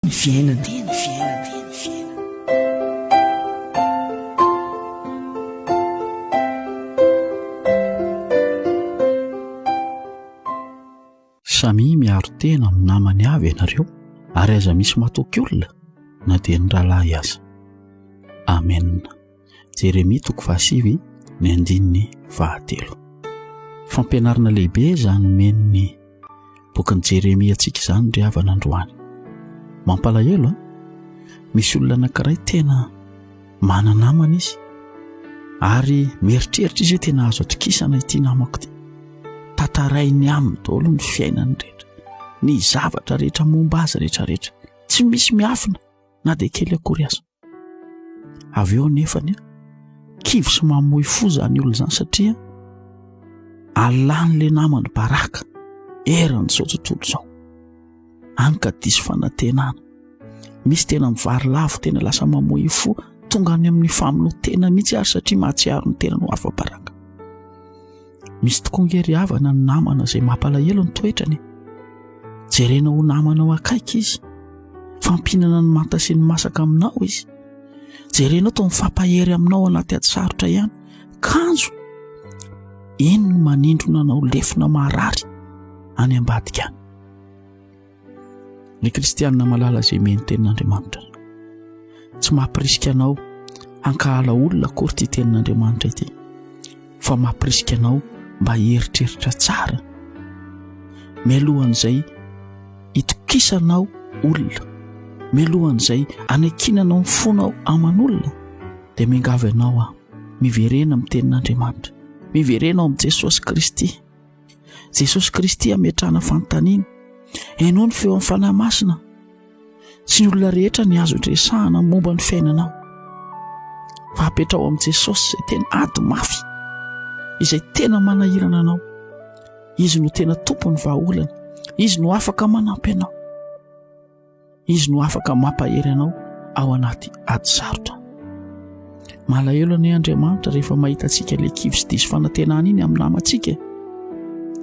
ny fiainana. Samia miaro tena amin'ny namany avy ianareo ary aza misy matoky olona na dia ny rahalahy aza. Amen. Jeremia toko fahasivy ny andininy fahatelo. Fampianarana lehibe izany men'ny bokin'i Jeremia antsika izany ry havana androany. Mampalahelo a! Misy olona anankiray tena manana namana izy ary mieritreritra izy hoe tena azo atokisana ity namako ity. Tantarainy aminy daholo ny fiainany rehetra, ny zavatra rehetra momba azy rehetra rehetra. Tsy misy miafina na dia kely akory aza. avy eo nefany a kivy sy mamoy fo zany olo zany satria alan'le namany baraka eran' izao tontolo izao any ka diso fanatenana misy tena mivary lavo tena lasa mamoy fo tonga any amin'ny famonoa tena mihitsy ary satria mahatsiaro ny tena no afa-baraka misy tokoa nge ry havana ny namana izay mampalahelo ny toetrany jerena ho namanao akaiky izy fampinana ny manta sy ny masaka aminao izy jerenao to mifampahery aminao anaty ady sarotra ihany kanjo eny ny manindrona anao lefona maharary any ambadika any ny kristianina malala izay meny tenin'andriamanitra tsy mampirisika anao hankahala olona akory ity tenin'andriamanitra ity fa mampirisika anao mba hieritreritra tsara mialohan'izay hitokisanao olona mialohan'izay anankinanao ny fonao aman'olona dia miangavy anao aho miverena amin'ny tenin'andriamanitra miverena ao amin'i jesosy kristy Jesosy Kristy ametrahana fanontaniana. Ianao ny feo amin'ny fanahy masina. Tsy ny olona rehetra ny azo resahana momba ny fiainanao. Fa apetrao amin'i Jesosy izay tena ady mafy, izay tena manahirana anao. Izy no tena tompon'ny vahaolana. Izy no afaka manampy anao. Izy no afaka mampahery anao ao anaty ady sarotra. Malahelo anie Andriamanitra rehefa mahita antsika ilay kivy sy diso fanantenana iny amin'ny namantsika.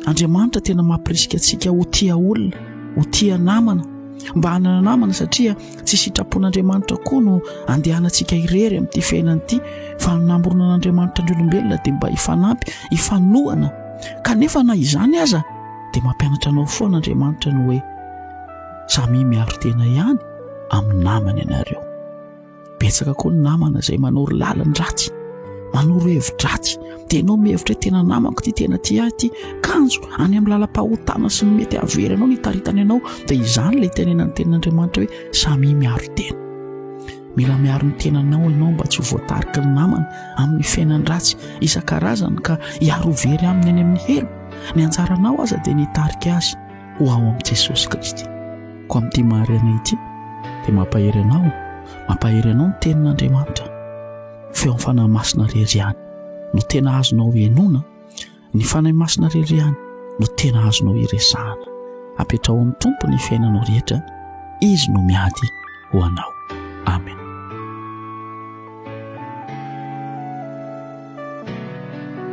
Andriamanitra tena mampirisika antsika ho tia olona, ho tia namana, mba hanana namana satria tsy sitrapon'Andriamanitra koa no andehanantsika irery amin'ity fiainana ity fa ny namoronana an'Andriamanitra ny olombelona dia mba hifanampy, hifanohana. Kanefa na izany aza dia mampianatra anao foana Andriamanitra ny hoe samia miaro tena ihany amin'ny namany ianareo. Betsaka koa ny namana izay manoro lalan-dratsy, manoro hevi-dratsy. Dia ianao mihevitra hoe tena namako ity, tena tia ahy ity. Kanjo any amin'ny lalam-pahotana sy ny mety hahavery anao ny hitaritany anao. Dia izany ilay itenenan'ny tenin'Andriamanitra hoe samia miaro tena. Mila miaro ny tenanao ianao mba tsy ho voatarika ny namana amin'ny fiainan-dratsy isan-karazany ka hiaro ho very aminy any amin'ny helo. Ny anjaranao aza dia ny hitarika azy. ho ao amin'i Jesosy Kristy. Koa amin'ity mahariana ity dia mampahery anao, mampahery anao ny tenin'Andriamanitra. Feo amin'ny fanahy masina irery ihany no tena azonao henoina, ny fanahy masina irery ihany no tena azonao hiresahana. Apetraho amin'ny Tompo ny fiainanao rehetra, izy no miady ho anao. Amen.